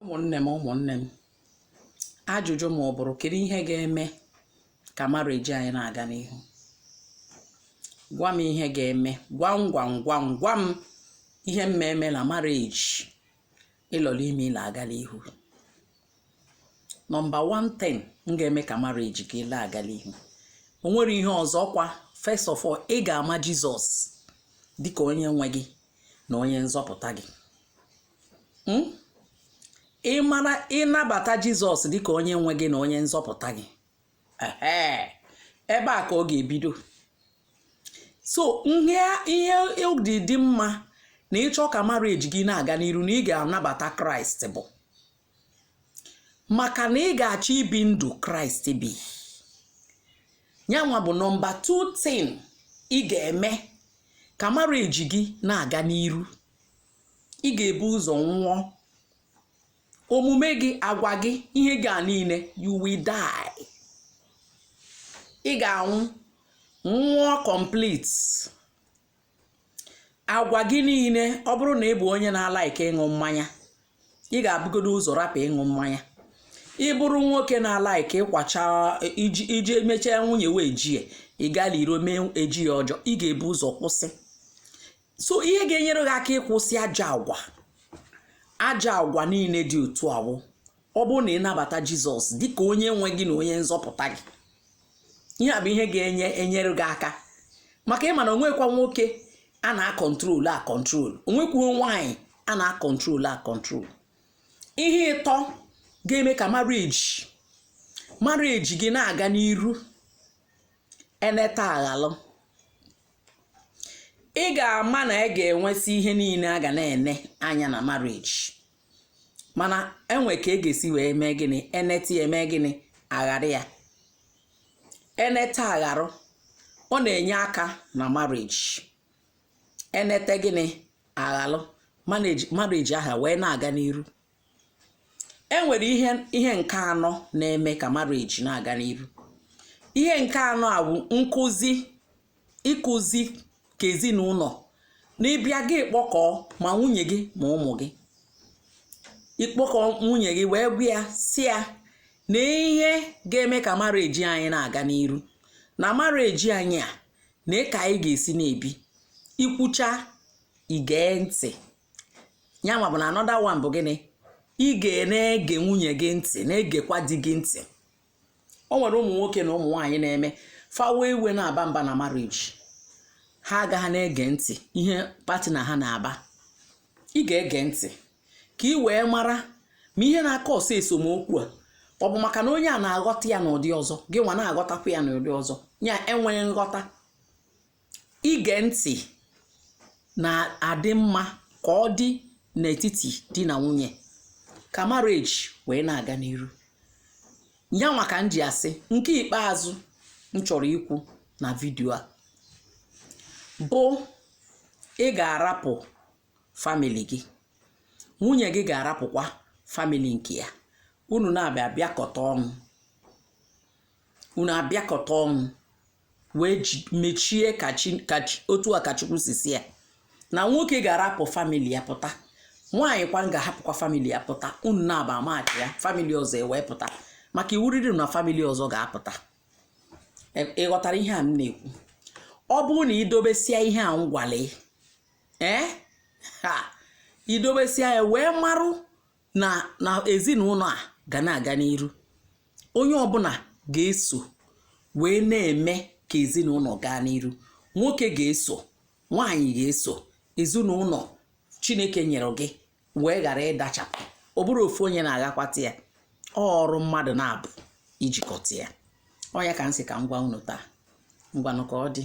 ụmụnne m ụmụnne m ajụjụ m ọ bụrụ kedu ihe ga-eme ka marriage anyị na-aga n'ihu gwa m ihe ga-eme gwa m gwa m gwa m gwa m ihe m ma-eme na marriage ịlọrọ ime ịla aga n'ihu nọmba 1 thing ga-eme ka marriage gị na-aga n'ihu o nwere ihe ọzọ kwa first of all ị ga-ama jizọs dịka onye nwe gị na onye nzọpụta gị hmm? ịmara ịnabata jizọs dịka onye nwe gị na onye nzọpụta gị ebe a ka ọ ga-ebido so ihe o ji dị mma na ị chọọ ka marriage gị na-aga n'iru na ị ga-anabata kraịst bụ maka na ị ga-achọ ibi ndụ kraịst bi yanwa bụ nọmba 2 thing ị ga-eme ka marriage gị na-aga n'iru ị ga-ebu ụzọ nwụọ omume gị agwa gị ihe gị a niile you will die ị ga-anwụ nwụọ complete agwa gị niile ọ bụrụ na ị bụ onye na-alaike ịṅụ mmanya ị ga-ebugodo ụzọ rapụ ịṅụ mmanya ị bụrụ nwoke na-alaike ịkwacha iji mechaa nwunye wee ji ya ị gaa n'iro mee eji ya ọjọọ ị ga-ebu ụzọ kwụsị so ihe ga-enyere gị aka ịkwụsị ajọ agwa ajọ agwa niile dị otu a wụ ọ bụrụ na ị nabata jizọs dịka onye nwe gị na onye nzọpụta gị ihe a bụ ihe ga-enyere gị aka maka ị ma na o nwekwa nwoke a na-akọntrolu akọntrolu o nwekwuo nwaanyị a na-akọntrolu akọntrolu ihe ịtọ ga-eme ka marriage marriage gị na-aga n'iru eneta aghalụ ị ga-ama na ị ga-enwesị ihe niile a ga na-ene anya na marriage mana e nwe ka ị ga-esi wee mee gịnị eneta ya eme gịnị aghara ya eneta agharụ ọ na-enye aka na marriage eneta gịnị aghalụ marriage aha wee na-aga n'iru e nwere ihe nke anọ na-eme ka marriage na-aga n'iru ihe nke anọ a bụ nkụzi ịkụzi ka ezinụlọ na ị bịa gị kpọkọọ ma nwunye gị ma ụmụ gị ịkpọkọ nwunye gị wee gwa ya sị ya na ihe ga-eme ka marriage anyị na-aga n'iru na marriage anyị a nee ka anyị ga-esi na-ebi i kwuchaa i gee ntị ya nwa bụ na another one bụ gịnị ị ga na-ege nwunye gị ntị na-egekwa di gị ntị o nwere ụmụ nwoke na ụmụ nwaanyị na-eme fawa iwe na-aba mba na marriage ha agaghị na-ege ntị ihe partner ha na-aba ị ga-ege ntị ka ị wee mara ma ihe na-cause esemokwu a ọ bụ maka na onye a na-aghọta ya n'ụdị ọzọ gị nwa na-aghọtakwa ya n'ụdị ọzọ ya enweghị nghọta ige ntị na-adị mma ka ọ dị n'etiti di na nwunye ka marriage wee na-aga n'iru ya nwa ka m ji asị nke ikpeazụ m chọrọ ikwu na vidio a bụ ị ga-arapụ famili gị nwunye gị ga-arapụkwa famili nke ya unu naabọ abịakọta ọnụ unu abịakọta ọnụ wee mechie otu a ka Chukwu si sị ya na nwoke ga-arapụ famili ya pụta nwaanyị kwa ga-ahapụkwa famili ya pụta unu naabọ amachi ya famili ọzọ ewee pụta maka iwu riri na famili ọzọ ga-apụta e, ị ghọtara ihe a m na-ekwu ọ bụrụ na i dobesịa ihe a m gwalụ ee eh, ha idobesia ya wee marụ na na ezinụlọ a ga na-aga n'iru onye ọbụla ga-eso wee na-eme ka ezinụlọ gaa n'iru nwoke ga-eso nwaanyị ga-eso ezinụlọ chineke nyere gị wee ghara ịdachapụ ọ bụrọ ofu onye na-aghakwata ya ọ ọrụ mmadụ naabọ ijikọta ya ọ ya ka m sị ka m gwa unu taa ngwanụ ka ọ dị